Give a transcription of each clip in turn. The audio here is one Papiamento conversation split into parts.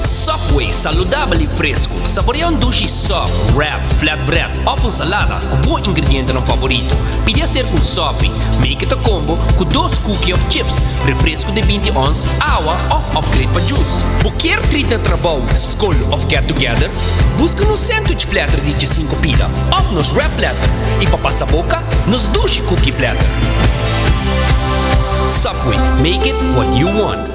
Subway, saludabel i fresku. Saborea un dushi sòp, wrap, flatbread òf un salada ku bo ingredientenan favorito. Pidi aserka un sòpi, make it a combo, ku dos kuki òf chips, refresku di binti ons, awa òf upgrade pa jus. Bo kier treat na trabou, skol òf get together? Buska nos sandwich platter di djesinku pida òf nos wrap platter, i pa pasa boka, nos dushi kuki platter. Subway, make it what you want.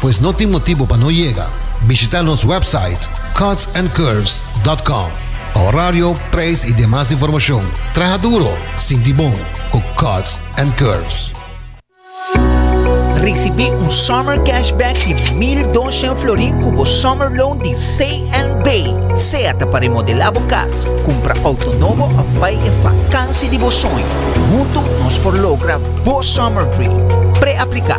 Pues no tin motibo pa no yega. Bishita nos website cutsandcurves.com pa horario, prijs y demas informacion. Traha duro, sinti bon cu Cuts and Curves. Ricibi un summer cashback di mil doshen florin cu bo summer loan di CNB, sea ta pa remodela bo cas, cumpra auto nobo of bay e vakansi di bo soño. Hunto nos por logra bo summer dream. Pre-aplica.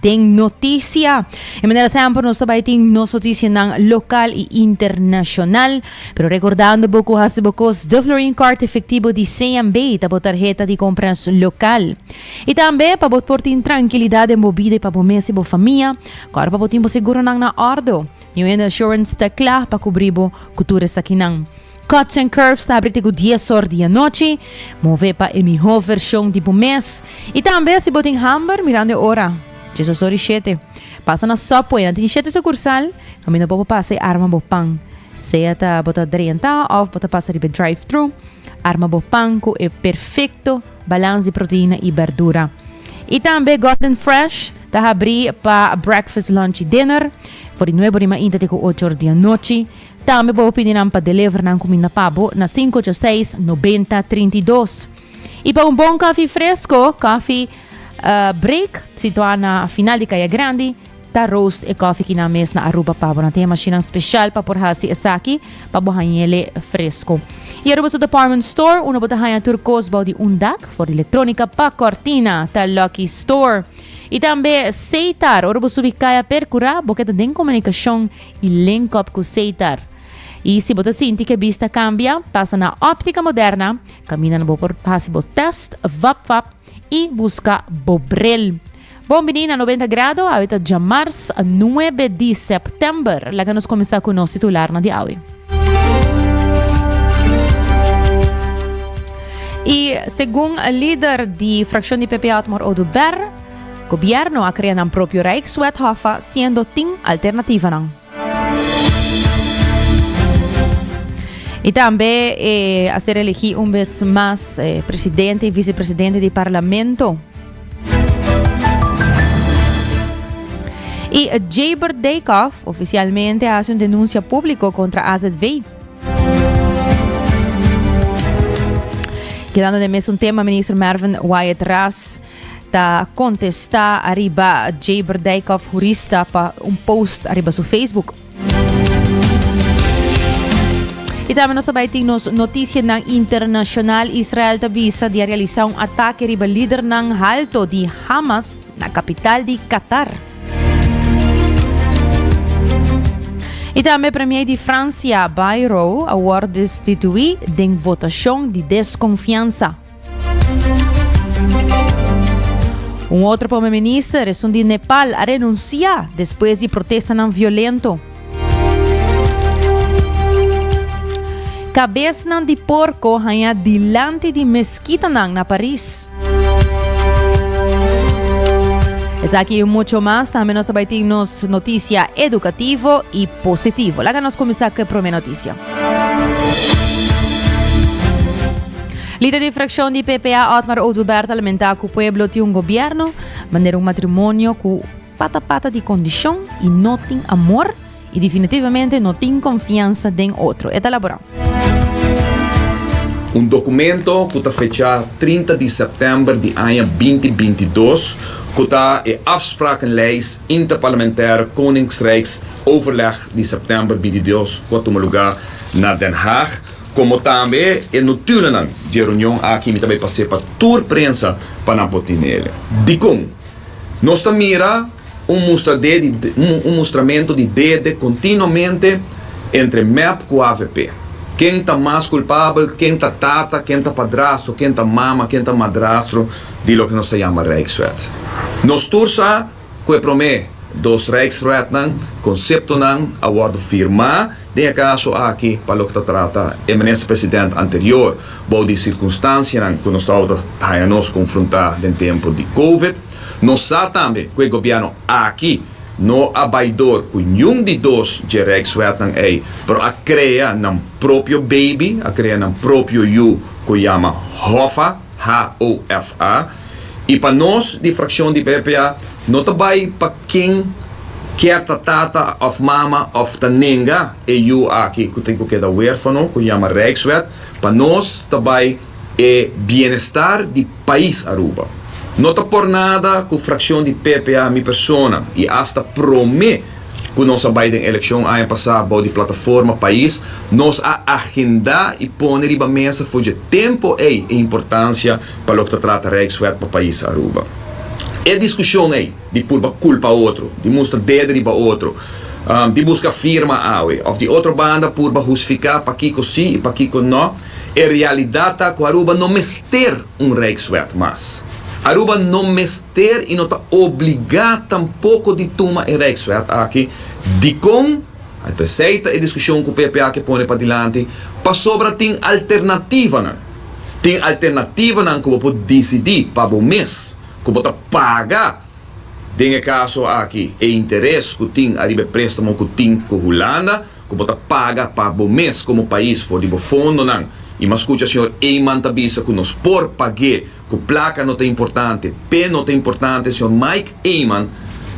den noticia. E manera semper nos ta bai tin nos noticianan local y internacional. Pero recordando bo cu haci bo cos de Florin Card Efectivo di CNB ta bo tarheta di compras local. Y tambe pa bo por tin tranquilidad den bo bida y pa bo mes y bo famia, cu ora pa bo tin bo seguronan na ordo. New End Assurance ta cla pa cubri bo cu tur esakinan. Cuts and Curves ta abri te ku dies or di anochi. Move pa e mihó vershon di bo mes. I tambe si bo tin hamber mirando e ora. Djesos ora i shete. Pasa na Subway, nan tin shete sukursal, kaminda bo pa pasa i arma bo pan. Sea ta bo ta drenta òf bo ta pasa riba e drive-thru, arma bo pan ku e perfekto balans di proteina i berdura. I tambe Gordon Fresh ta abri pa breakfast, lunch i dinner, for di nuebe orimainta te ku ocho or di anochi. Tambe bo pidi nan pa deliver nan cuminda pa bo na cinco ocho seis noventa trinta y dos. Y pa un bon cafi fresco, Coffee Break, situa na final di Caya Grandi, ta roast e coffee ki nan mes na Aruba pa bo. Nan tin e mashinan special pa por haci esaki pa bo hañele fresco. Y Aruba su department store, unda bo ta haña tur cos bao di un dak, for di electronica pa cortina, ta Lucky Store. Y tambe Seitar, ora bo subi Caya Percura, bo keda den comunicacion i len kòp ku seitar. I si bo ta sinti ku e bis ta kambia, pasa na Optica Moderna, kaminda na bo por hasi bo tèst, vap vap i buska bo bril. Bon bini na Noventa Grado, awe ta djamars nuebe di sèptèmber. Laga nos kuminsá ku nos titularnan di awe. I segun lider di frakshon di PP Otmar Oduber. Gobierno a crea nan propio Rijkswet Hoffa siendo tin alternativanan. Y tambe e a ser elegi un vez mas presidente y vicepresidente di Parlamento. Y Jabert Dijkhoff oficialmente a hace un denuncia público contra AZV. Quedando de mes un tema, minister Mervin Wyatt Ras ta contesta ariba Jaber Dijkhoff Jurista pa un post ariba su Facebook. Y también nos tabay tin nos noticia nan internacional. Israel ta visa di a realiza un ataque riba líder nan halto di Hamas na capital di Qatar. Y también premier di Francia, Bayrou, a word destituí den votacion di desconfiansa. Un otro Prome Minister, esun di Nepal, a renuncia despues di protestanan violento. Cabesnan di porco haña dilanti di meskitanan na Paris. Esaki y mucho mas, tambe nos ta bai tin nos noticia educativo y positivo. Laga nos cuminsa cu e prome noticia. Lider di frakshon di PPA, Otmar Oduber, ta lamentá ku pueblo tin un gobièrnu manera un matrimonio ku pata pata di kondishon i no tin amor i definitivamente no tin konfiansa den otro. E ta laborá. Un dokumento ku ta fechá trinta di sèptèmber di aña binti binti dos ku ta e afsprakenlijst interparlementair Koningsrijksoverleg di sèptèmber binti dos ku a tuma lugá na Den Haag, Komo tambe e notulanan di e reunion aki mi ta bai pas'é pa tur prensa pa nan por tin el. Dikon? Nos ta mira un mustradé di un mustramentu di dede kontinuamente entre mep ku avp. Ken ta mas kulpabel, ken ta tata, ken ta padrastro, ken ta mama, ken ta madrastro di loke nos ta yama rijkswet? Nos tur sa. Cu e prome dos Rijksraadnan, conceptonan a wordo firma den e caso aki pa loke ta trata e Minister-President anterior, bou di circunstancianan cu nos tabata haya nos confronta den tempo di Covid. Nos sa tambe cu e Gobierno aki no a bay door cu niun di dos dje Rijksraadnan ey, pero a crea nan propio baby, a crea nan propio yu cu yama Hoffa. HOFA, y pa nos di fraccion di BPA no ta bay pa ken kier ta tata of mama of ta nenga e yu aki cu tin cu keda huerfano cu yama Rijkswet, pa nos ta bay e bienestar di pais Aruba. No ta por nada cu fraccion di BPA mi persona y hasta prome. cu nos a bay den eleccion aña pasa bao di plataforma pais, nos a agenda y pone riba mesa for dje tempo ey e importancia pa loke ta trata Rijkswet pa pais Aruba. E discusion ey di purba culpa otro, di mustra dede riba otro, di busca firma awe of di otro banda purba husifica pakico si y pakico no, e realidad ta cu Aruba no mester un Rijkswet mas. Aruba no mes. ter i no ta obligá tampoko di tuma e rèkswet aki. Dikon? Anto esei ta e diskushon ku PPA ke pone padilanti, pasobra tin alternativanan. Tin alternativanan ku bo por disidí pa bo mes ku bo ta paga, den e kaso aki, e interes ku tin ariba e préstamo ku tin ku Hulanda, ku bo ta paga pa bo mes komo pais for di bo fondonan i mas kucha señor Eyman ta bisa ku nos por pag'é ku plaka no ta importante p'é no ta importante señor Mike Eyman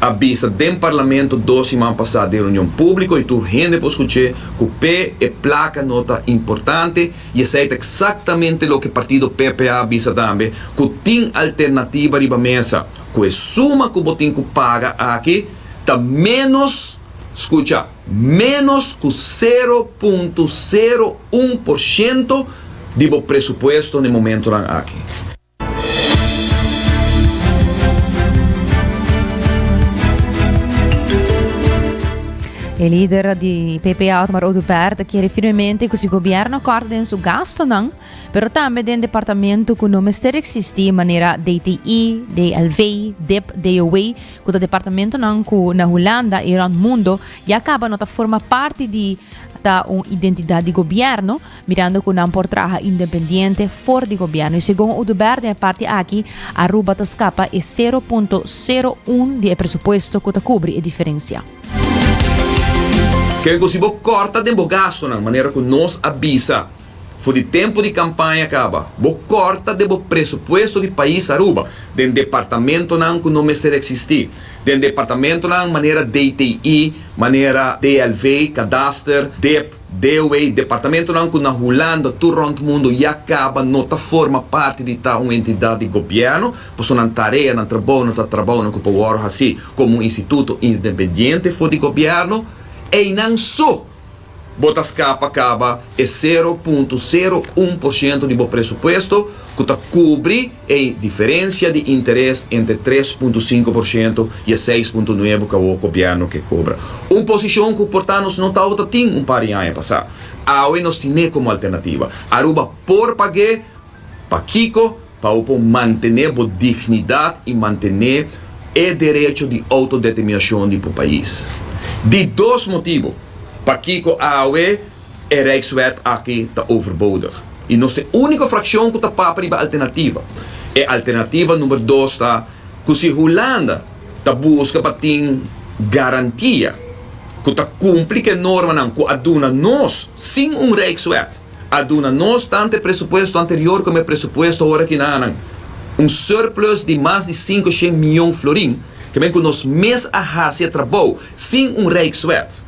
a bisa den parlamento dos siman pasá den reunion públiko i tur hende por skuch'é ku p'é e plaka no ta importante i esei ta eksaktamente loke partido PPA a bisa tambe ku tin alternativa riba mesa ku e suma ku bo tin ku paga aki ta ménos skucha. Ménos ku sero punto sero un por shento di bo presupuesto na e momentunan aki. E lider di PP, Otmar Oduber, ta kere firmemente ku si gobièrnu kòrta den su gastunan, pero tambe den departamento ku no mester eksistí, manera DTI, DLV, dip, DOW, ku ta departamentonan ku na Hulanda i rònt mundu ya kaba no ta forma parti di ta un identidat di gobièrnu, mirando ku nan por traha independiente for di gobièrnu. I segun Oduber den e parti aki, Aruba ta skapa e sero punto sero un di e presupuesto ku ta kubri e diferensia. Kiko si bo kòrta den bo gastunan manera ku nos a bisa? For di tempu di kampaña kaba, bo kòrta den bo presupuesto di pais Aruba, den departamentonan ku no mester eksistí, den departamentonan manera DTI, manera DLV, Kadaster, dep, DOW, departamentonan ku na Hulanda tur rònt mundu ya kaba no ta forma parti di ta un entidat di gobièrnu, pasobra nan tarea, nan trabou no ta trabounan ku por wòrdu hasí komo un instituto indenpendiente for di gobièrnu. Einan so! Bo ta skapa kaba e sero punto sero un por shento di bo presupuesto ku ta kubri e diferensia di interes entre tres punto sinku por shento i e seis punto nuebe ku awo gobièrnu ke kobra. Un posishon ku por ta nos no tabata tin un par di aña pasá. Awe nos tin'é komo alternativa. Aruba por pag'é, pa kiko? Pa bo por mantené bo dignidat i mantené e derecho di outodeterminashon di bo pais. Di dos motibo pakiko awe e Rijkswet aki ta overbodig i nos tin úniko frakshon ku ta papa riba alternativa. E alternativa number dos ta ku si Hulanda ta buska pa tin garantia ku ta kumpli ku e normanan ku a duna nos sin un Rijkswet, a duna nos tantu e presupuesto anterior komo e presupuesto ora ki nan anan un surplus di mas di sinku shen mion florin ke men ku nos mes a hasi e trabou sin un rijkswet.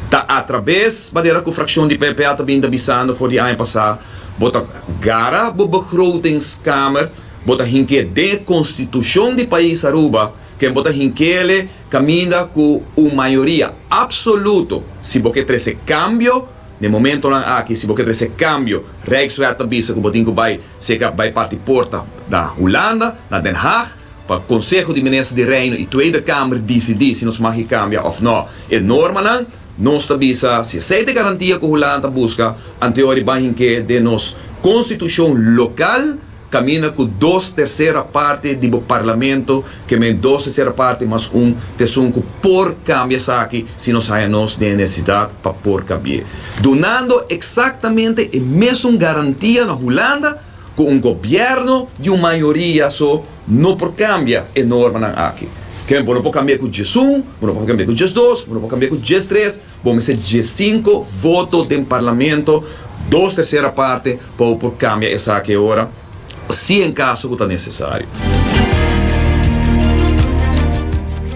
Ta atrabes manera ku frakshon di PPA ta binda bisando for di aña pasá bo ta gara bo begrotingskamer, bo ta hink'é den e konstitushon di pais Aruba, Ken bo ta hinkele kaminda ku un mayoria apsoluto si bo ke trese kambio? Na e momentonan aki si bo ke trese kambio, Rijksraad ta bisa ku bo tin ku bai seka bai parti porta na Hulanda, na Den Haag, pa Konseho di Minister di Reino i Tweede Kamer disidí si nos mag e kambia òf nò e normanan. Nos ta bisa si esei ta e garantia ku Hulanda ta buska anteor di bai hink'é den nos konstitushon lokal. Camina cu dos tercera parti di bo Parlamento, que men dos tercera parti mas un tesun cu por cambia esaki si nos haya nos den e necesidad pa por cambi'e. Dunando exactamente e mesun garantia na Hulanda cu un gobierno di un mayoria so no por cambia e normanan aki. Ke men por no por cambi'e cu djesun, bo no por cambi'e cu djesdos, bo no por cambi'e cu djestres, Bo mester diescinco voto den Parlamento, dos tercera parte, pa bo por cambia esaki ora, si en caso cu ta necesario.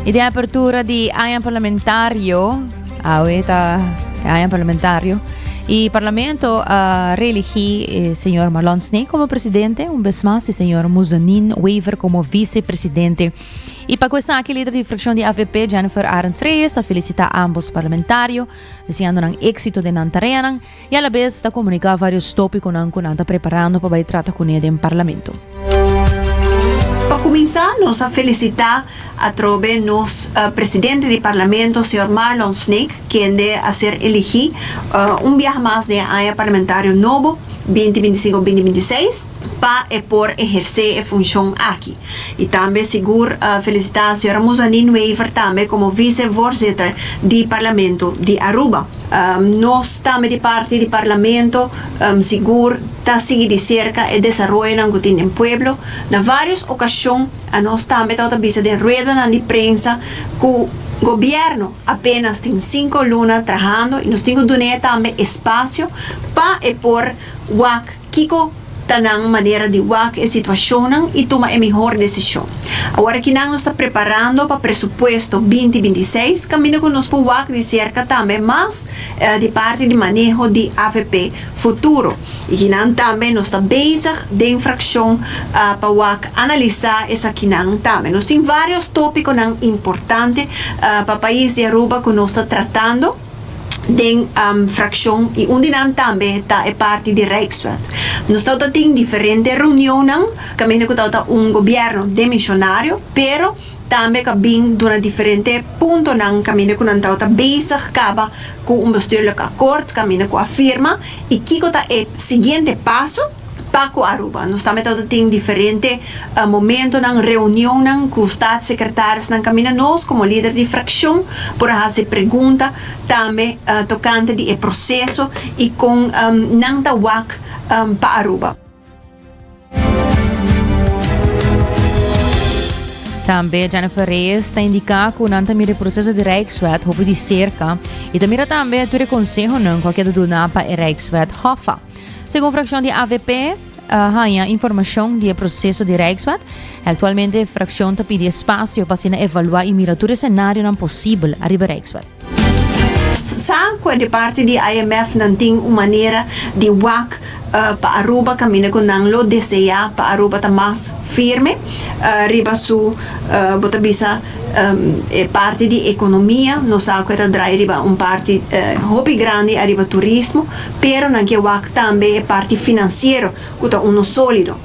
Y den apertura di aña parlamentario, awe ah, ta aña parlamentario, y parlamento uh, reelegi eh, señor Marlon Snee como presidente, un vez más, y señor Muzanin Wever como vicepresidente. I pa ku esaki lider di frakshon di avp, Jennifer Arends-Reyes ta felisitá ámbos parlamentario, deseando nan éksito den nan tareanan i alabes ta komuniká vários tópikonan ku nan ta preparando pa bai trata kuné den parlamento. Pa kuminsá nos a felisitá atrobe nos presidente di parlamento, señor Marlon Snake, kende a ser eligí un biaha mas den e aña parlamentario nobo binti binti sinku binti binti seis pa e por ehersé e funshon aki. I tambe sigur a felisitá señora Muzanin Wever tambe komo visevoorzitter di Parlamento di Aruba. Nos tambe di parti di Parlamento sigur ta sigui di serka e desaroyonan ku tin den pueblo. Na vários okashon a nos tambe ta ota bisa den ruedanan di prensa ku Gobièrnu apénas tin sinku luna trahando i nos tin ku dun'é tambe espasio pa e por wak Kiko ta nan manera di wak e situashonnan i tuma e mihor desishon? Awor aki nan nos ta preparando pa presupuesto binti binti seis, kaminda ku nos por wak di serka tambe mas di parti di maneho di avp futuro. Ikinan tambe nos ta bezig den frakshon pa wak analisá esakinan tambe. Nos tin vários tópikonan importante pa pais di Aruba ku nos ta tratando. den fraccion y un di nan tambe ta e parti di Rijkswet. Nos tawata tin diferente reunionnan caminda cu tawata un gobierno den misionario pero tambe cu a bin duna diferente puntonan caminda cu nan tawata bezig caba cu un bestuurlijk akkoord caminda cu a firma y kico ta e siguiente paso. Pa ku Aruba, nos tambe tabata tin diferente momentonan, reunionnan ku statssekretarisnan kaminda nos komo lider di frakshon por a hasi pregunta tambe tokante di e proseso i kon nan ta wak pa Aruba. Tambe Jennifer Reyes ta indiká ku nan ta mira e proseso di Rijkswet hopi di serka i ta mira tambe tur e konsehonan ku a keda duna pa e Rijkswet Hoffa. Segun frakshon di avp haña informashon di e proseso di Rijkswet, aktualmente e frakshon ta pidi espasio pa asina evaluá i mira tur e senarionan posibel ariba Rijkswet. Sa kue di parti di IMF nan tin un manera di wak pa Aruba kaminda ku nan lo deseá pa Aruba ta mas firme riba su, bo ta bisa, e parti di ekonomia, nos sa kue ta drai riba un parti hopi grandi ariba turismo, pero nan ke wak tambe e parti finansiero ku ta uno sólido.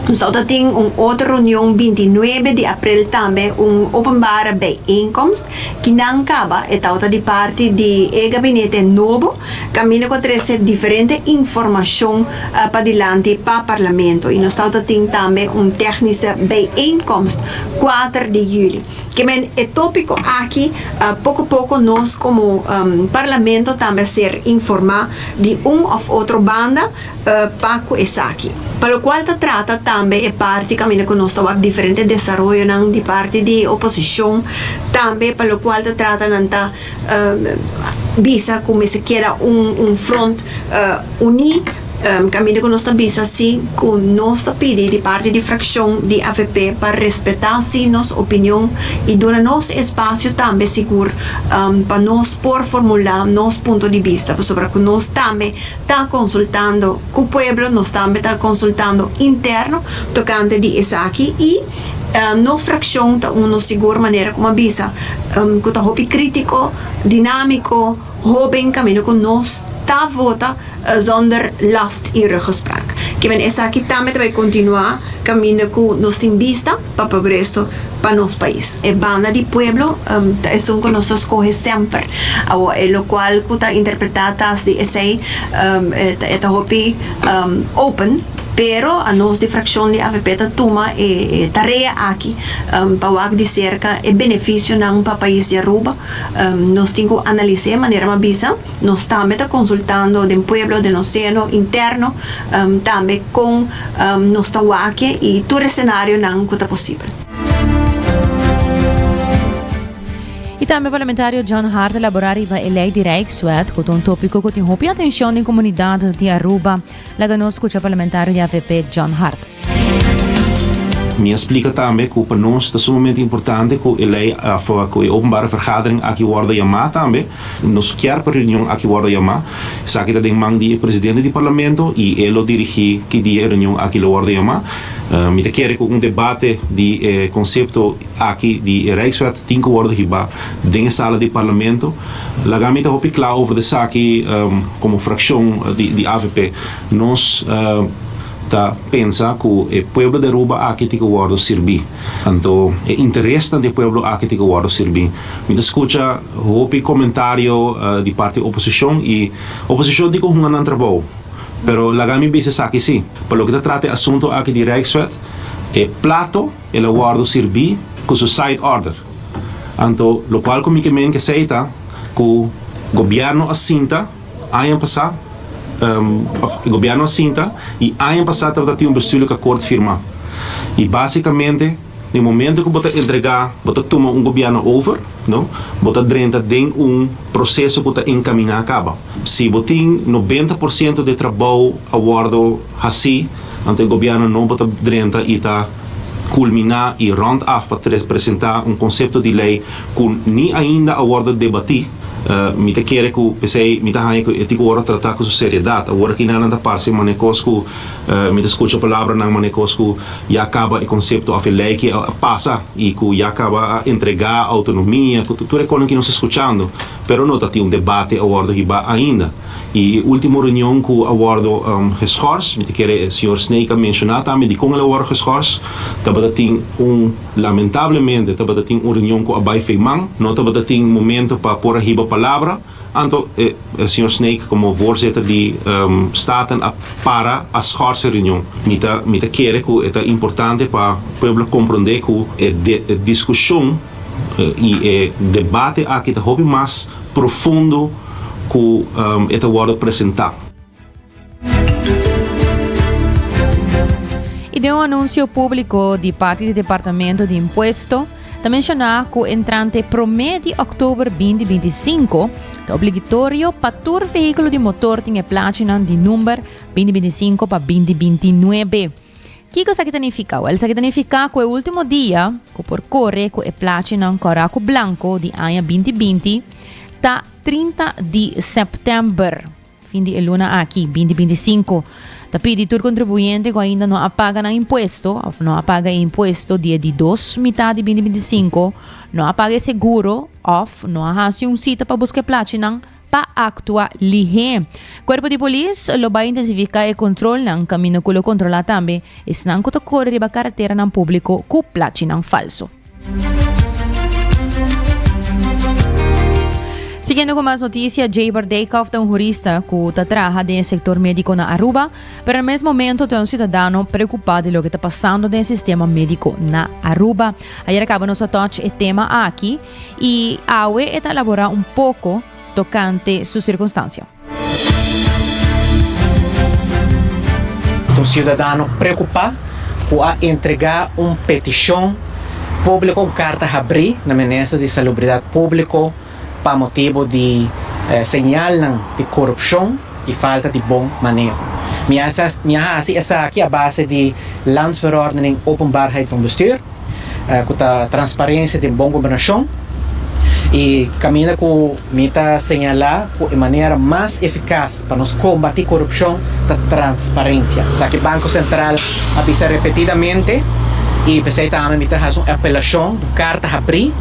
Nos ta outa tin un otro reunion binti nuebe di aprel tambe un openbare bijeenkomst ki nan kaba e ta outa di parti di e gabinete nobo kaminda ku a trese diferente informashon pa dilanti pa parlamento i nos ta outa tin tambe un tèknische bijeenkomst kuater di yüli. Ke men e topiko aki poko poko nos komo Parlamento tambe a ser informá di un òf otro banda pa ku esaki. Pa lokual ta trata tambe e parti kaminda ku nos ta wak diferente desaroyonan di parti di oposishon tambe pa lokual ta trata nan ta bisa cu mester keda un, un front uní. Caminda cu nos ta bisa si cu nos ta pidi di parti di fraccion di avp pa respeta si nos opinion y duna nos espacio tambe sigur pa nos por formula nos punto di bista pasobra cu nos tambe ta consultando cu pueblo, nos tambe ta consultando interno tocante di esaki y. Um, nos fraccion ta uno sigur manera como a bisa, um, cu ta hopi critico, dinamico, hoben camino cu nos ta vota uh, zonder last y ruggespraak. Kimen esaki tambe ta bay continua camino cu nos tin bista pa progreso pa nos pais. E banda di pueblo, um, ta esun cu nos ta scoge semper. Awo, e locual cu ta interpreta tas di esey, um, e ta, e ta hopi, um, open. Pero a nos di frakshon di avp ta tuma e tarea aki pa wak di serka e benefisionan pa pais di Aruba. Nos tin ku analis'é manera m'a bisa. Nos tambe ta konsultando den pueblo, den nos seno interno tambe kon nos ta wak'é i tur e senarionan ku ta posibel. I tambe parlamentario John Hart a laborá riba e lei di Rijkswet, ku ta un tópiko ku tin hopi atenshon den komunidat di Aruba. Laga nos scucha parlamentario di avp John Hart. Mi a splica tambe cu pa nos ta sumamente importante cu e ley of cu e openbare vergadering aki wordo yama tambe. Nos kier pa reunion aki wordo yama. Esaki ta den man di e presidente di Parlamento y e lo dirigi ki dia e reunion aki lo wordo yama. Mi ta kere cu un debate di e concepto. Aki di e Rijkswet tin ku wòrdu hibá den e sala di Parlamento. Laga mi ta hopi kla over esaki komo frakshon di avp. Nos ta pensa ku e pueblo di Aruba aki tin ku wòrdu sirbí. Anto e interesnan di e pueblo aki tin ku wòrdu sirbí. Mi ta skucha hopi komentario di parti oposishon i oposishon tin ku hunga nan trabou. Pero laga mi bisa esaki sí, pa loke ta trata e asunto aki di Rijkswet, e plato, El a wòrdu sirbí ku su side order. Anto lokual ku mi ke men ke sei ta ku gobièrnu a sinta aña pasá, òf e gobièrnu a sinta i aña pasá tabata tin un bestùdlik akòrt firmá. I básikamente den momentu ku bo ta entregá, bo ta tuma un gobièrnu over, no, bo ta drenta den un proseso ku ta enkaminá kaba. Si bo tin noventa por siento di e trabou a wòrdu. Hasi, anto e gobièrnu no por ta drenta i ta kulminá i rònt af pa presentá un konsepto di lei ku ni ainda a wòrdu debatí. Mi ta kere ku p'esei mi ta haña ku e tikoor a tratá ku su seriedat. Awor aki nan a ta parse mane kos ku mi ta skucha palabranan mane kos ku ya kaba e konsepto òf e lei aki a pasa i ku ya kaba a entregá outonomia ku tur e kosnan ki nos ta skuchando. Pero no ta tin un debate a wòrdu hibá ainda. I e ultimo reunion ku a wòrdu geschors, mi ta kere e señor Snake a menshoná tambe dikon el a wòrdu geschors, tabata tin un, lamentablemente, tabata tin un reunion ku a bai feiman, no tabata tin momento pa por a hiba palabra, anto e señor Snake komo voorzitter di Staten a para a schors e reunion. Mi ta mi ta kere ku e ta importante pa pueblo komprondé ku e diskushon i e debate aki ta hopi mas profundo, ku e ta wòrdu presentá. I den un anunsio públiko di parti di Departamento di Impuesto, ta menshoná ku entrante promé di òktober binti binti i sinku, ta obligitorio pa tur vehíkulo di motor tin e plachinan di number binti binti i sinku pa binti binti i nuebe. Kiko esaki ta nifiká? Wèl, esaki ta nifiká ku e último dia ku por kore ku e plachinan kòrá ku blanko di aña binti binti ta trinta di sèptèmber, fin di e luna aki, binti binti sinku. Ta pidi tur kontribuyente ku ainda no a paga nan impuesto òf no a paga e impuesto di e di dos mitat di binti binti sinku, no a paga e seguro òf no a hasi un sita pa buska e plachinan, pa aktua lihé. Kuerpo di polis lo bai intensifiká e kontrolnan kaminda ku lo kontrolá tambe esnan ku ta kore riba karateranan públiko ku plachinan falso. Siguiendo cu mas noticia, Jaber Deykhoff ta un jurista cu ta traha den e sector medico na Aruba, pero na mes momento ta un ciudadano preocupa di loke ta pasando den e sistema medico na Aruba. Ayer a caba nos a touch e tema aki, i awe e ta elaborá un poko tokante su sirkunstansia. Un siudadano preokupá ku a entregá un petishon públiko, un karta habrí, na Minister di Salubridat Públiko pa motibu di señalnan di korupshon i falta di bon maneho. Mi a hasi esaki a base di Landsverordening Openbaarheid van Bestuur. ku ta transparensia den bon gobernashon i kaminda ku mi ta señalá ku e manera mas efikas pa nos kombatí korupshon ta transparensia. Esaki Banko Sentral a bisa repetidamente i p'esei ta ami mi ta hasi un apelashon di un karta habrí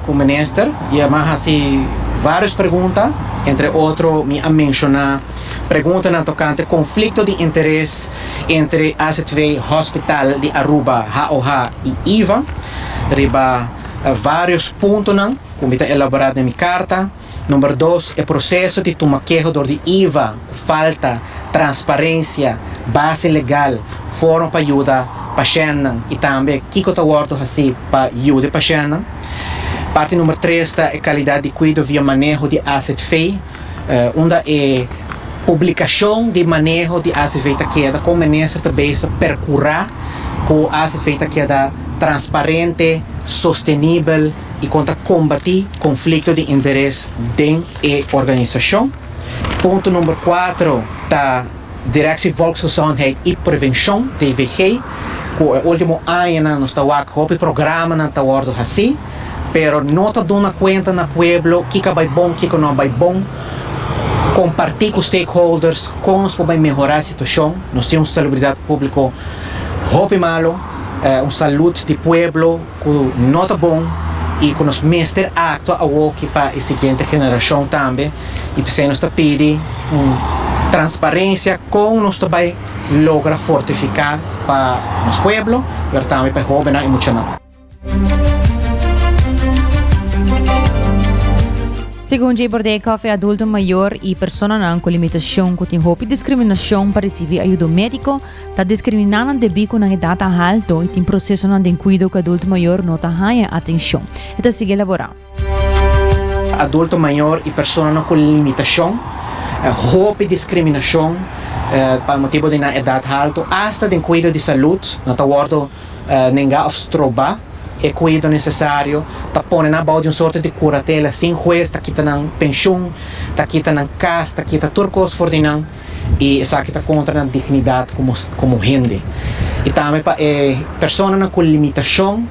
ku minister i e a hasi vários pregunta, entre otro mi a menshoná preguntanan tokante konflikto di interes entre azv Hospital di Aruba, HOH, i iva riba varios puntonan ku mi ta elaborá den mi karta. Number dos, e proseso di tuma keho dor di iva ku falta transparensia, base legal, forma pa yuda pashèntnan i tambe kiko ta wòrdu hasi pa yuda e pashèntnan. Parti number tres ta e kalidat di kuido via maneho di azv. unda e publicacion di maneho di ACV ta keda con Minister ta bezig percura cu ACV ta keda transparente, sostenibel y con ta combati conflicto di interes den e organisacion. Punto number cuatro ta Directie Volksgezondheid y Prevention, DVG, cu e ultimo añanan nos ta wak hopi programanan ta wordo haci. pero no ta duna cuenta na pueblo kico bay bon y kico no bay bon, comparti cu stakeholders con nos por bay mehora e situacion, nos tin un salubridad publico hopi malo, un salud di pueblo cu no ta bon y cu nos mester actua awoki pa e siguiente generacion tambe y p'esey nos ta pidi un transparencia con nos ta bay logra fortifica pa nos pueblo pero tambe pa e hobennan y muchanan. Segun Jay Bordey Coffey adulto mayor y personanan cu limitacion cu tin hopi discriminacion pa ricibi ayudo medico ta discrimina nan debi cu nan edad ta halto y tin procesonan den cuido cu adulto mayor no ta haña atencion. E ta sigui elabora. Adulto mayor y personanan cu limitacion, hopi discriminacion pa motibo di nan edad halto, hasta den cuido di salud, no ta wordo nenga of stroba e cuido necesario, ta pone nan bao di un sorto di curatela sin huez ta kita nan pensioen, ta kita nan cas, ta kita tur cos for di nan. i esaki ta kontra nan dignidat komo hende i tambe pa e personanan ku limitashon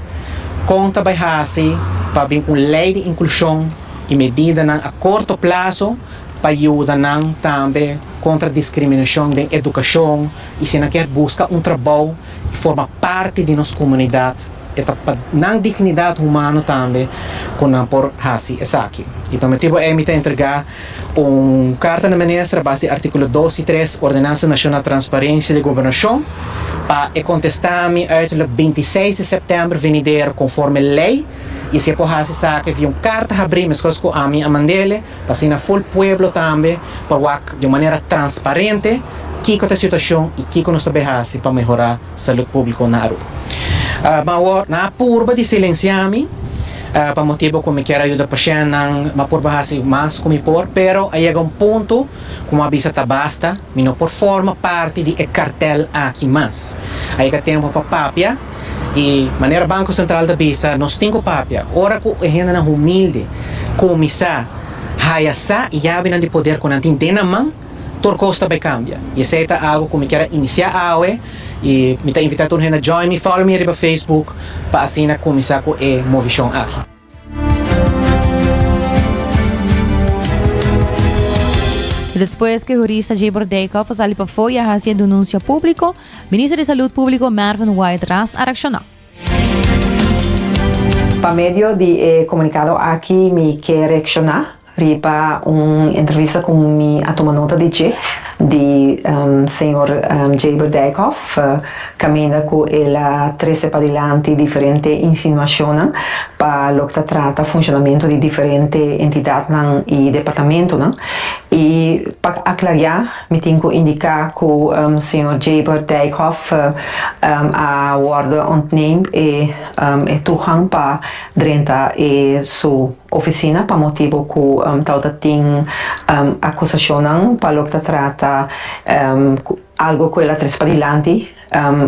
kon ta bai hasi pa bin un lei di inklushon i medidanan a korto plaso pa yuda nan tambe kontra diskriminashon den edukashon i si nan kier buska un trabou i forma parti di nos komunidat e ta pa nan dignidat humano tambe ku nan por hasi esaki i pa motibu ei mi ta entrega. Un karta na minister a base di artíkulo dos i tres Ordenansa Nashonal di Transparensia di Gobernashon pa e kontestami uiterlijk binti seis di sèptèmber venidero konforme lei i si e por hasi esaki via un karta habrí meskos ku ami a mand'ele pa asina ful pueblo tambe por wak di un manera transparente kiko ta e situashon i kiko nos ta bai hasi pa mehorá Salud Público na Aruba. Mi awor nan a purba di silensiá mi pa motibu ku mi kier a yuda pashennan, mi a purba hasi mas ku mi por, pero a yega un punto ku mi a bisa ta basta, mi no por forma parti di e kartèl aki mas. A yega tempu pa papia i manera Banko Sentral ta bisa nos tin ku papia, ora ku e hendenan humilde kuminsá haya sa yabinan di poder ku nan tin den nan man, tur cos ta bay cambia y esey ta algo cu mi kier a inicia awe y mi ta invita tur hende a join mi follow mi riba facebook pa asina cuminsa cu e movicion aki. Despues cu hurista Jabor Dijkhoff a sali pafo y a haci e denuncia publico, Minister di Salud Publico Mervin White ras a reacciona. Pa medio di e comunicado aki mi kier reacciona. Riba un entrevista ku mi a tuma nota di dje, di señor Jaber Dijkhof, kaminda ku el a trese padilanti diferente insinuashonnan pa loke ta trata funshonamentu di diferente entidatnan i departamentunan. I pa aklariá, mi tin ku indiká ku señor Jaber Dijkhof a wòrdu ontneemd e toegang pa drenta e su Oficina pa motibu cu tawata tin acusacionnan pa loke ta trata algo cu el a trece padilanti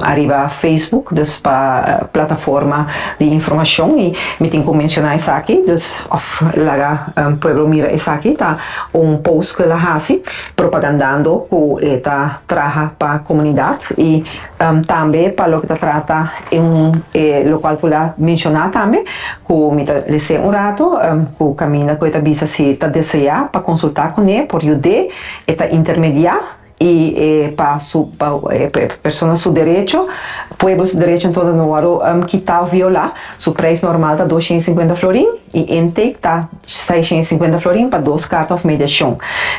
ariba Facebook, dus pa plataforma di informacion, y mi tin cu menciona esaki, dus of laga pueblo mira esaki, ta un post cu el a haci propagandando cu e ta traha pa comunidad y. Tambe pa loke ta trata e un e lokual ku la menshoná tambe ku mi ta lesé un ratu ku kaminda ku e ta bisa si ta deseá pa konsultá kuné por yud'é e ta intermediá i e pa su persona su derecho pueblo su derecho enton no wòrdu kitá òf violá su preis normal ta dos shent i sinkuenta florin i intake ta Seiscientos y cincuenta florin pa dos carta of media shon.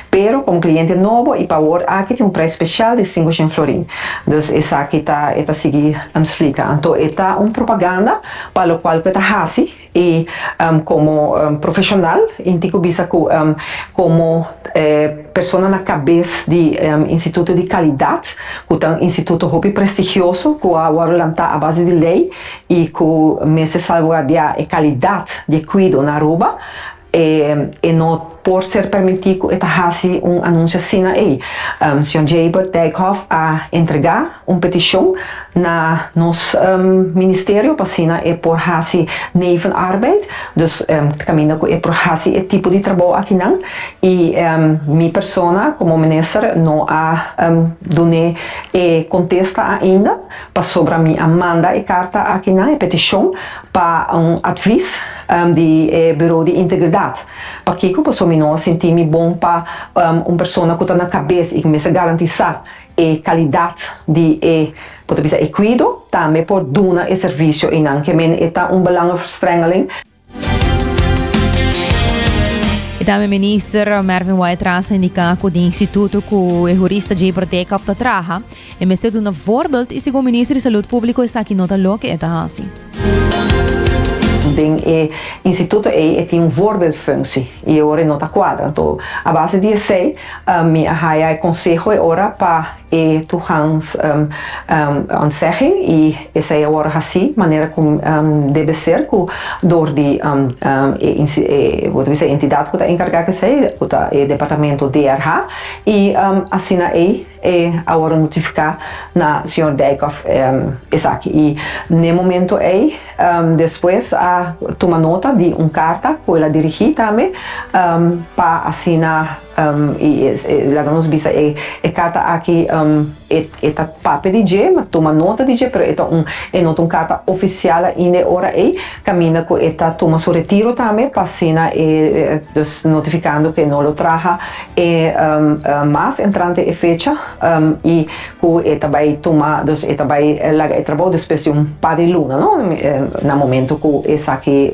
Pero como cliente nobo y pa awor aki tin un prijs special di cincoscient florin. Dus esaki ta, e ta sigui splica, anto e ta un propaganda pa locual cu e ta haci y como profesional y tin cu bisa cu como persona na cabes di instituto di calidad cu ta un instituto hopi prestigioso cu a worde lanta a base di ley y cu mester salvaguardia e calidad di e cuido na Aruba, e no por ser permiti cu e ta haci un anuncio asina ey. Sr. Jabert Dijkhoff a entrega un peticion na nos Ministerio pa asina e por haci nevenarbeid, dus ta caminda cu e por haci e tipo di trabao akinan, y mi persona como Minister no a dun'e e contesta ainda, Pasobra mi a manda e karta aki nan, e petishon, pa un atvis di e Buro di Integridat. Pakico? Pasobra mi no a sinti mi bon pa un persona cu ta na cabes y cu mester garantisa e calidad di e, bo ta bisa, e cuido, tambe por duna e servicio eynan. Ke men e ta un belangenverstrengeling. I tambe minister Mervin White Trans a indica cu di instituto cu e jurista Jay Berdekop ta traha, e mester duna voorbeeld y segun minister di Salud Publico esaki no ta loke e ta haci. Den e instituto ey e tin un voorbeeldfunctie y e ora e no ta cuadra. Enton, a base di esey mi a haya e conseho e ora pa. E tu Hans ontzegging i esei a worde haci manera cu debe ser cu door di e entidad cu ta encarga cu esei, cu ta e departamento DRH, i asina ei e a worde notifica na señor Dijkhoff esaki. I n'e momento ei despues a tuma nota di un carta cu el a dirigi tambe pa asina. I laga nos bisa e kata aki, e ta papia di dje, ma tuma nota di dje, pero e ta un, e no ta un kata ofisial ainda e ora ei, kaminda ku e ta tuma su retiro tambe, pa asina e, dus notifikando ku e no lo traha e mas entrante e fecha, i ku e ta bai tuma, dus e ta bai laga e trabou despues di un par di luna, no? na momentu ku esaki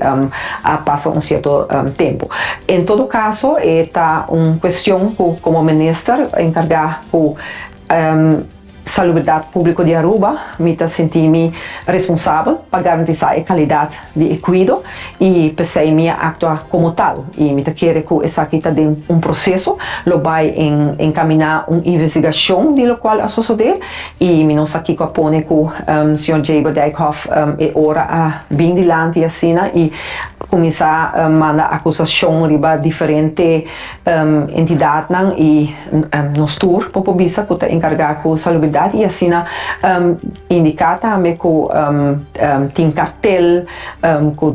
a pasa un sierto tempu. En todo kaso e ta un kuestion ku komo minister enkargá ku salubridat públiko di Aruba mi ta sinti mi responsabel pa garantisá e kalidat di e cuido y pesey mi a actua como tal y mi ta kere cu esaki ta den un proceso, lo bay en encamina un investigacion di locual a sosode y mi no sa kico a pone cu Sr. Jaber Dijkhof e ora a bin dilanti asina y cuminsa manda acusacion riba diferente entidadnan y nos tur por por bisa cu ta encarga cu salubridad y asina. Indica tambe cu tin cartel cu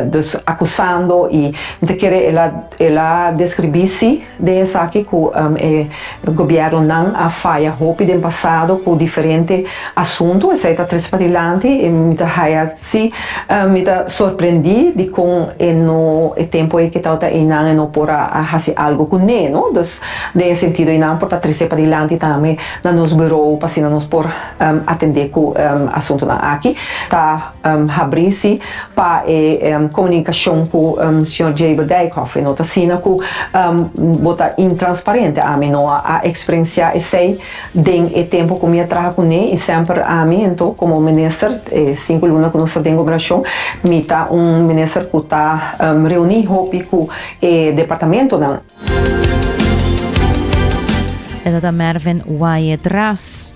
dos acusando y mi ta kere el a describi si den esaki cu e gobiernonan a faya hopi den pasado cu diferente asunto, esaki ta tres padilanti y mi ta haya Sí, mi ta sorprendí di kon e no, e tempu ei ke tabata einan e no por a hasi algu kuné, no. Dus, den e sentido einan por ta trese padilanti tambe na nos burou pa asina nos por atendé ku asuntunan aki. Ta habrí sí pa e komunikashon ku señor Jaber Dijkhoff. E no ta asina ku bo ta intransparente. Ami no a eksperensiá esei. Den e tempo ku mi a traha kuné i semper ami anto komo un minister, e sinku luna ku nos ta den gobernashon, mi ta un minister ku ta reuní hopi ku e departamentonan. E ta ta Mervin Wyatt Ras.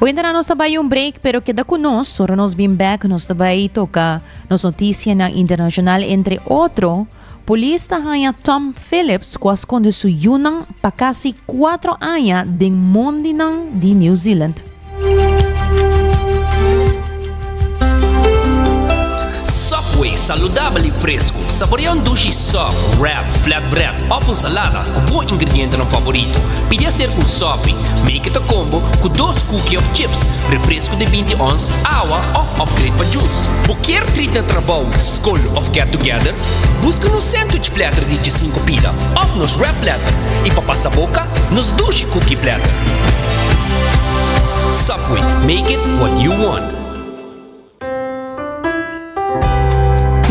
Oyentenan nos ta bai un break pero keda ku nos, ora nos bin bèk nos ta bai toka nos notisianan internashonal entre otro. Polis ta haña Tom Phillips ku a skonde su yunan pa kasi kuatro aña den mondinan di New Zealand. Subway, saludabel i fresku. Saborea un dushi sub, wrap, flatbread òf un salada ku bo ingredientenan favorito. Pidi aserka un sopi, make it a combo, ku dos kuki òf chips, refresku di binti ons, awa òf upgrade pa jus. Bo kier treat na trabou? Col of Get Together? Busca nos sandwich platter di dje sinku pila of nos wrap platter y pa pasa boca nos dushi cookie platter. Subway, make it what you want.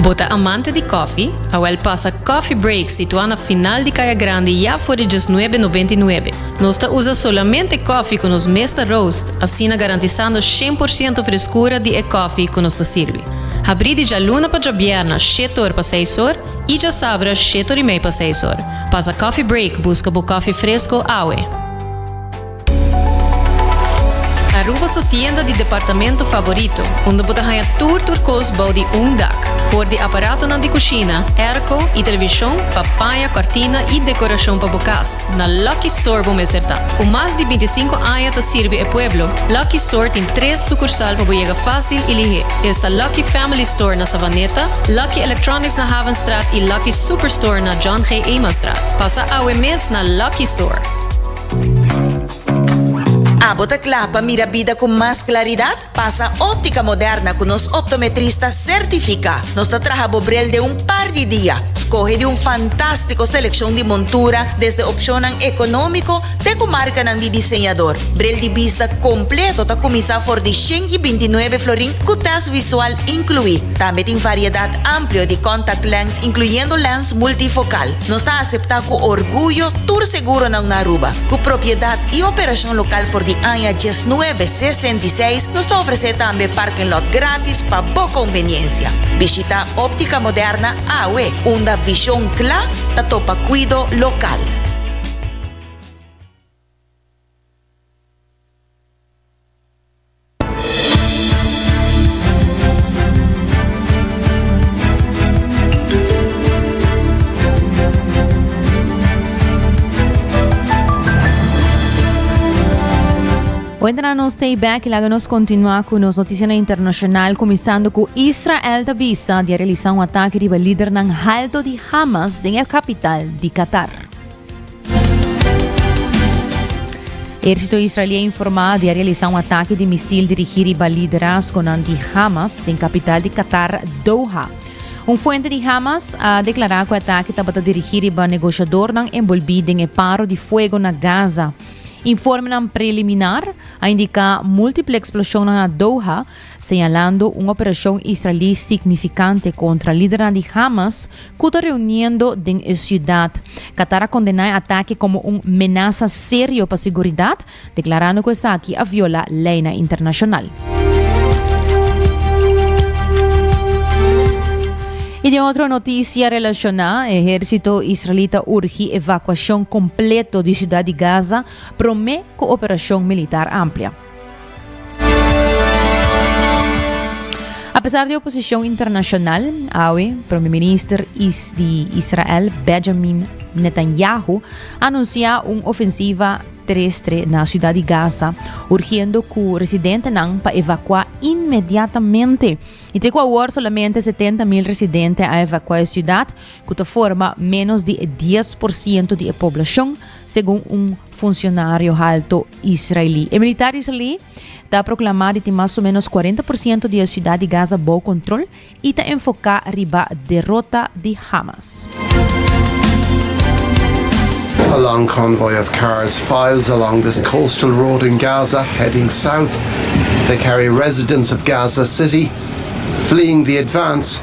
Bo ta amante di kofi? Awel pasa Coffee Break situa na final di Kaya Grandi ya for di diesnuebe nobenta i nuebe. Nos ta usa solamente kofi ku nos mes ta roast, asina garantisando shen por siento freskura di e kofi ku nos ta sirbi. Habrí di djaluna pa djabierna shete or pa seis or i djasabra shete or i mei pa seis or. Pasa coffee break buska bo kofi fresko awe. Aruba su tienda di departamento favorito unda bo ta haña tur tur kos bou di un dak. For di aparatonan di kushina, airco i televishon pa paña kòrtina i dekorashon pa bo kas, na Lucky Store bo mester ta. Ku mas di binti sinku aña ta sirbi e pueblo, Lucky Store tin tres sukursal pa bo yega fásil, i lihé. Esta Lucky Family Store na Savaneta, Lucky Electronics na Havenstraat i Lucky Superstore na John G. Emanstraat. Pasa awe mes na Lucky Store. Abo ta kla pa mira bida ku mas klaridat? Pasa Óptica Moderna ku nos optometrista sertifiká. Nos ta traha bo brel den un par di dia. Skohe di un fantástiko selekshon di montura desde opshonnan ekonómiko Te ku markanan di diseñador. Bril di bista kompleto ta kuminsá for di shen i binti nuebe florin ku tèst visual inkluí. Tambe tin variedat amplio di contact lens inkluyendo lens multifokal. Nos ta aseptá ku orguyo tur seguronan na Aruba. Ku propiedat i operashon lokal for di aña diesnuebe sesenta i seis, nos ta ofresé tambe parking lot gratis pa bo konveniensia. Bishitá Óptica Moderna awe, unda vishon kla ta topa kuido lokal. Buentra nos stay back y laga nos continua cu nos noticianan internacional cuminsando cu Israel ta bisa di a realisa un atake riba lidernan halto di Hamas den e capital di Qatar. Eército israelié informá di a realisá un atake di misil dirigí riba liderazgonan di Hamas den kapital di Qatar, Doha. Un fuente di Hamas a deklará ku e atake tabata dirigí riba negoshadornan enbolbí den e paro di fuego na Gaza. Informenan preliminar a indiká múltiple eksploshonnan na Doha, señalando un operacion Israelí significante contra lidernan di Hamas cu ta reuniendo den e ciudad. Qatar a condena e atake como un menaza serio pa siguridad, declarando cu esaki a viola leynan internacional. Y den otro noticia relaciona, ejercito Israelí ta urgi evacuacion completo di ciudad di Gaza prome cu operacion militar amplia. A pesar di oposicion internacional, awe Prome Minister di Israel Benjamin Netanyahu anuncia un ofensiva terestre na ciudad di Gaza, urgiendo cu residentenan pa evacua inmediatamente. Y te cu awor solamente 70 mil residente a evacua e ciudad, cu ta forma menos di e dies por ciento di e poblacion, segun un funsionario halto israelí. E militar israelí ta proklamá di tin mas o ménos kuarenta por siento di e siudat di Gaza bou kontrol i ta enfoká riba derota di Hamas. A long convoy of cars files along this coastal road in Gaza heading south. They carry residents of Gaza City fleeing the advance.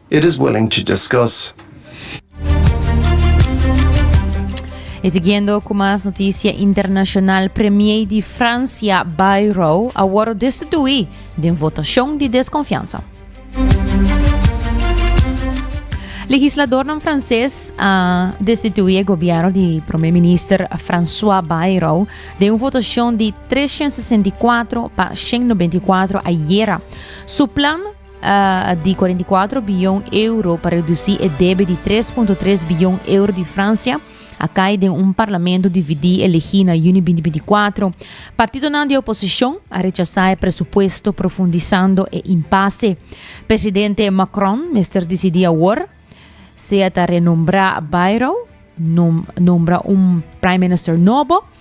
It is willing to discuss. E siguiendo cu mas noticia internacional, Premier di Francia, Bayrou, a worde destitui den votacion di desconfiansa. Legisladornan Frances a destitui e gobierno di Prome Minister François Bayrou den un votacion di 364 pa 194 ayera. Su plan di kuarenta i kuatro biyon euro pa redusí e debe di tres punto tres biyon euro di Fransia a kai den un parlamento dividí elegí na yuni binti binti kuatro. Partidonan di oposishon a rechasá e presupuesto profundisando e impase. Presidente Macron mester disidí awor sea ta renombrá Bayrou, nombra un prime minister nobo,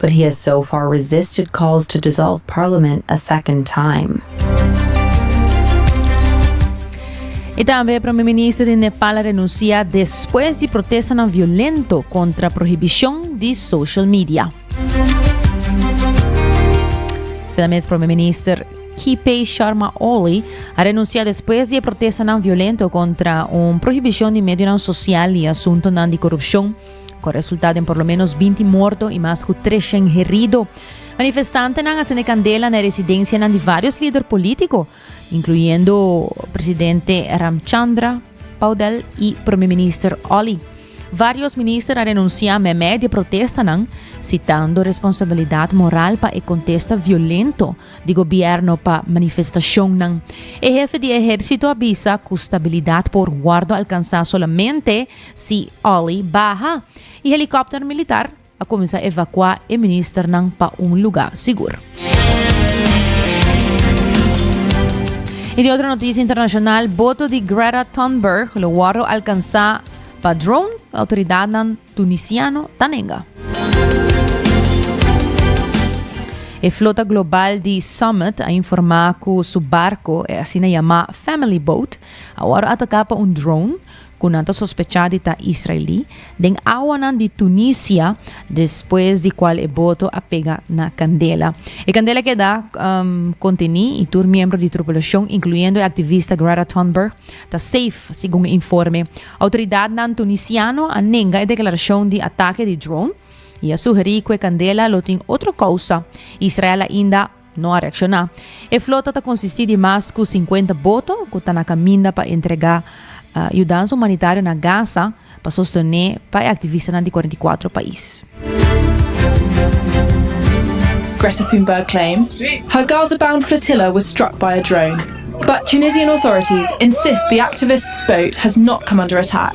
But he has so far resisted calls to dissolve parliament a second time. Y tambe Prome Minister di Nepal a renuncia despues di protestanan violento contra prohibicion di social media. Sina mes Prome Minister KP Sharma Oli a renuncia despues di e protestanan violento contra un prohibicion di medionan social y asuntonan di corrupcion Cu a resulta den por lo menos binti morto y mas cu treshen herido. Manifestantenan a sende candela na e residencianan di varios lider politico, incluyendo presidente Ramchandra, Paudel y Premier Minister Olly. Varios minister a renuncia meme di e protestanan, citando responsabilidad moral pa e contesta violento di gobierno pa manifestacionnan. E hefe di ehercito a bisa cu stabilidad por wordo alcansa solamente Si Olly baha, e helikòpter militar a kuminsá evakuá e ministernan pa un lugá sigur. I di otro notisia internashonal, boto di Greta Thunberg lo wòrdu alkansá pa drone, outoridatnan tunisiano ta nenga. E flota global di Summit a informá ku su barko, e asina yamá Family Boat, a wòrdu ataká pa un drone, ku nan ta sospechá di ta israelí, den awanan di Tunisia, despues di kual e boto a pega na kandela. E kandela keda kontení i tur miembro di trupulashon, inkluyendo e aktivista Greta Thunberg, ta seif, segun e informe. Outoridatnan tunisiano a nenga e deklarashon di atake di drone i a sugerí ku e kandela lo tin otro kousa. Israel ainda. No a reakshoná. E flota ta konsistí di mas ku sinkuenta boto ku ta na kaminda pa entregá yudansa humanitario na Gaza pa sostené pa e aktivistanan di kuarenta i kuatro pais. Greta Thunberg claims her Gaza-bound flotilla was struck by a drone, but Tunisian authorities insist the activist's boat has not come under attack.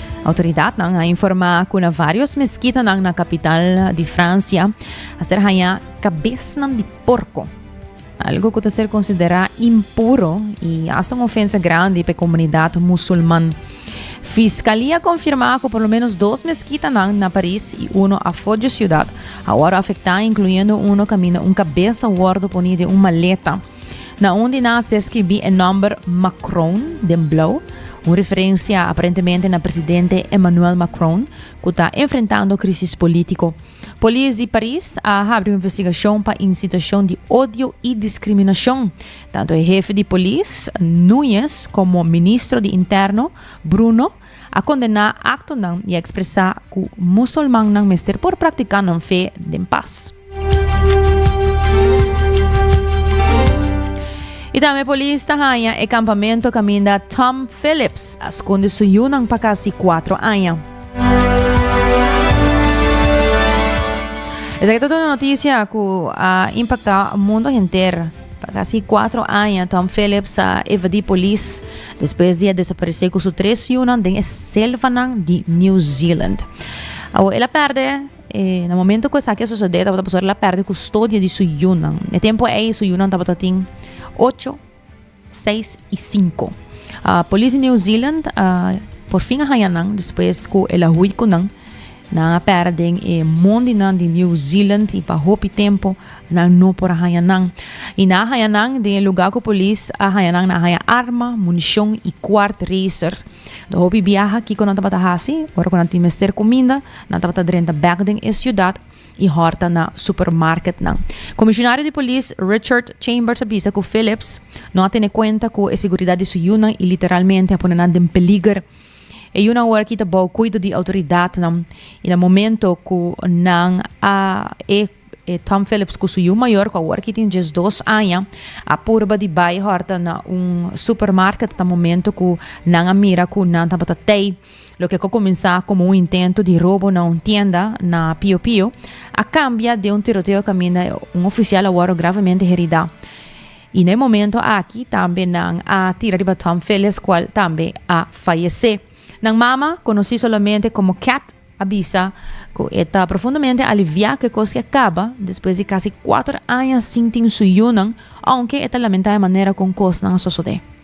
Autoridadnan a informá ku na varios meskitanan na kapital di Fransia a ser hañá kabesnan di porko, algo ku ta ser konsiderá impuro i hasta un ofensa grandi pa e komunidat musulman. Fiskalia konfirmá ku por lo menos dos meskitanan na Paris i uno afó dje siudat a wòrdu afektá, inkluyendo uno kaminda un kabes a wòrdu poní den un maleta. Na un di nan ser skibí e nòmber Macron den blou, un referensia aparentemente na presidente Emmanuel Macron, ku ta enfrentando krisis polítiko. Polis di Paris a habri un investigashon pa insitashon di odio i diskriminashon. Tantu e hefe di polis, Nuñez, komo ministro di Interno, Bruno, a kondená aktonan i a ekspresá ku musulmannan mester por praktiká nan fe den pas. I tambe polis ta haña e kampamentu kaminda Tom Phillips a skonde su yunan pa kasi kuatro aña. Esaki ta tur e notisia ku a impaktá mundo henter. Pa kasi kuatro aña Tom Phillips a evadí polis despues di a desaparesé ku su tres yunan den e selvanan di New Zealand. Awo el a pèrdè, e, na momentu ku esaki a sosodé tabata pasó el a pèrdè kustodia di su yunan. Na e tempu ei su yunan tabata tin ocho, seis i sinku. Polis di New Zealand a porfin a haña nan despues ku el a hui ku nan Nan a pera den e mon di nan di New Zealand i pa hopi tempu nan no por a haña nan. I nan a haña nan den e lugá ku polis a haña nan, nan a haña arma, munishon i kwart racer. Ta hopi biaha kiko nan tabata hasi, ora ku nan tin mester kuminda, nan tabata drenta bèk den e siudat i hòrta na supermarketnan. Komishonario di Polis Richard Chambers a bisa ku Phillips no a tene kuenta ku e siguridat di su yunan i literalmente a pone nan den peliger. E yunan ora kita bou cuido di autoridadnan y na momento cu nan a e e Tom Phillips cu su yu mayor cu awor ki tin diesdos aña a purba di bay horta na un supermarket ta momento cu nan a mira cu nan tabata tey loke cu a cuminsa como un intento di robo na un tienda na Pio Pio a cambia den un tiroteo caminda un oficial a worde gravemente herida. y na e momento aki tambe nan a tira riba Tom Phillis cual tambe a fayece. Nan mama, conoci solamente como Cat, a bisa cu e ta profundamente alivia cu e cos ke caba despues di casi cuater aña sin tin su yunan, aunke e ta lamenta e manera con cosnan a sosode.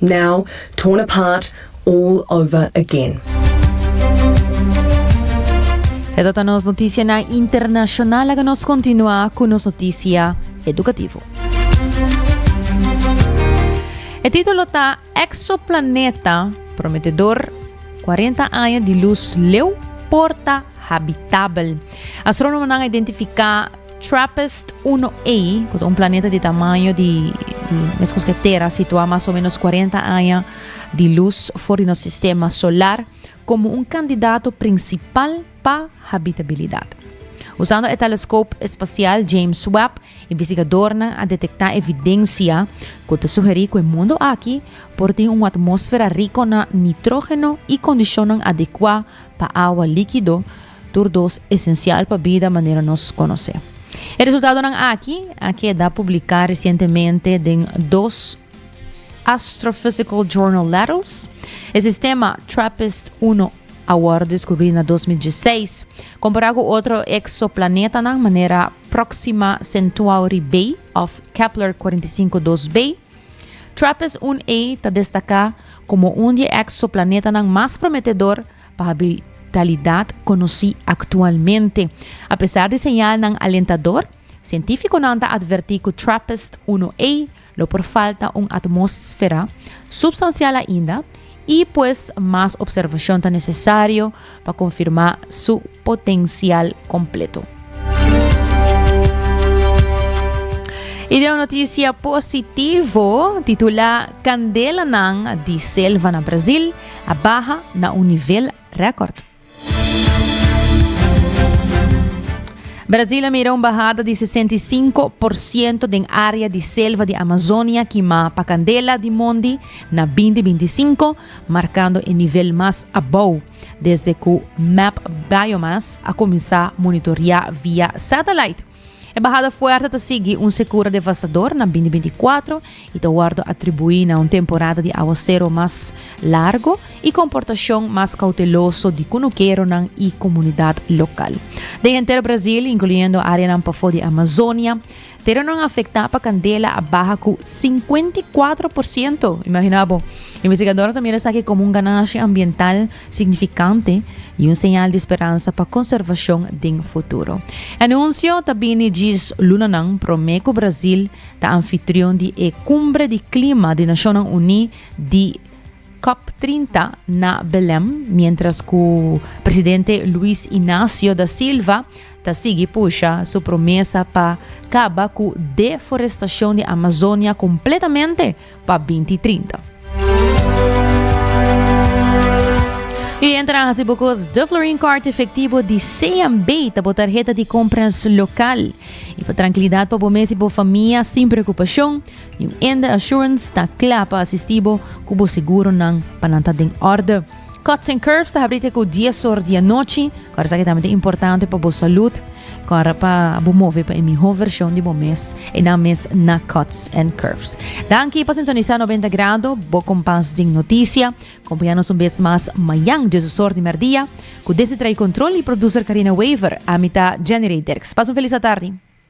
Now, torn apart all over again. E ta nos noticianan internacional. Laga nos continua cu nos noticia educativo. E titulo ta Exoplaneta prometedor, cuarenta aña di luz leu por ta habitabel. Astronomonan a identifica. Trappist 1A, cu ta un planeta di tamaño di, di mescos que Tera, situa mas o menos 40 aña di luz for di nos sistema solar, como un candidato principal pa habitabilidad. Usando e telescope espacial James Webb, investigadornan a detecta evidencia cu ta sugeri cu e mundo aki por tin un atmosfera rico na nitrógeno y condicionnan adecua pa awa líquido, Tur dos esencial pa bida manera nos conoce. E resultadonan aki a keda publica recientemente den dos Astrophysical Journal Letters. E sistema Trappist 1 a worde descubri na 2016. Compara cu otro exoplanetanan manera Proxima Centuauri B of Kepler 45 2 B. Trappist 1 A ta destaca como un di e exoplanetanan mas prometedor pa habilidad conoci actualmente. A pesar di señalnan alentador, cientificonan ta adverti cu Trappist uno A lo por falta un atmosfera substancial ainda y pues mas observacion ta necesario pa confirma su potencial completo. Y den un noticia positivo, titula Candelanan di Selva na Brazil, a baha na un nivel record. Brasil a mira un bahada di 65 por siento den area di selva di Amazonia kimá pa kandela di mondi na binti binti sinku, markando e nivel mas abou desde ku Map Biomass a kuminsá monitoriá via satellite. E bahada fuerte ta sigui un sekura devastador na bindi binti kuatro i ta wordo atribuí na un temporada di awosero mas largo i komportashon mas kouteloso di kunukeronan i komunidat lokal. Den henter Brazil, inkluyendo áreanan pafó di Amazonia, teronan afektá pa kandela a baha ku sinkuenta i kuatro por siento. Imagina bo! Investigadornan ta mira esaki komo un ganashi ambiental signifikante i un señal di speransa pa konservashon den futuro. E anunsio ta bini djis lunanan promé ku Brazil ta anfitrion di e Kumbre di Klima di Nashonnan Uní di Cop trinta na Belem, miéntras ku presidente Luiz Inácio da Silva ta sigui pusha su promesa pa kaba ku deforestashon di Amazonia kompletamente, pa binti trinta. Y enta nan haci bo cos de Florin Card efectivo di CMB ta bo tarjeta di compras local. Y pa trankilidad pa bo mes y bo famia sin preocupacion, New Ende Assurance ta cla pa asisti bo cu bo seguro nan pa nan ta den orde. Cuts and Curves ta habri te ku 10 or di anochi. Kor esaki tambe ta importante pa bo salud. Kor pa bo move pa e miho version di bo mes. E nan mes na Cuts and Curves. Danki pa sintonisa 90 grado, bo kompas den noticia. Kompaña nos un bes mas mañan dies osor di merdia. Ku desi trae kontrol y producer Karina Wever. Ami ta Jenny Rey Derks. Pas un felis atardi.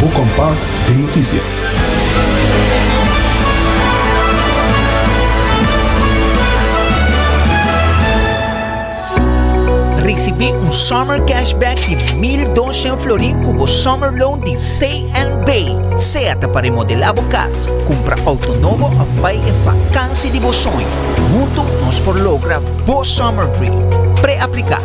Bo con pas den noticia. Ricibi un summer cash back di mil doshen florin cu bo summer loan di CNB. Sea ta pa remodela bo cas, cumpra auto nobo of bay e vakansi di bo soño, hunto nos por logra bo summer dream. Pre-aplica.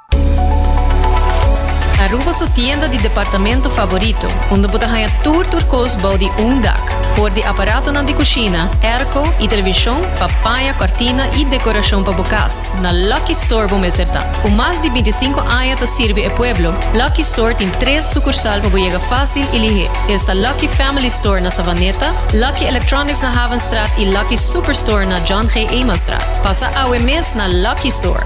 Aruba su tienda di departamento favorito, unda bo ta haña tur tur kos bou di un dak, for di aparatonan di kushina, airco i televishon pa paña kòrtina i dekorashon pa bo kas, na Lucky Store bo mester ta. Ku mas di binti sinku aña ta sirbi e pueblo, Lucky Store tin tres sukursal pa bo yega fásil i lihé. Esta Lucky Family Store na Savaneta, Lucky Electronics na Havenstraat i Lucky Superstore na John G. Emanstraat. Pasa awe mes na Lucky Store!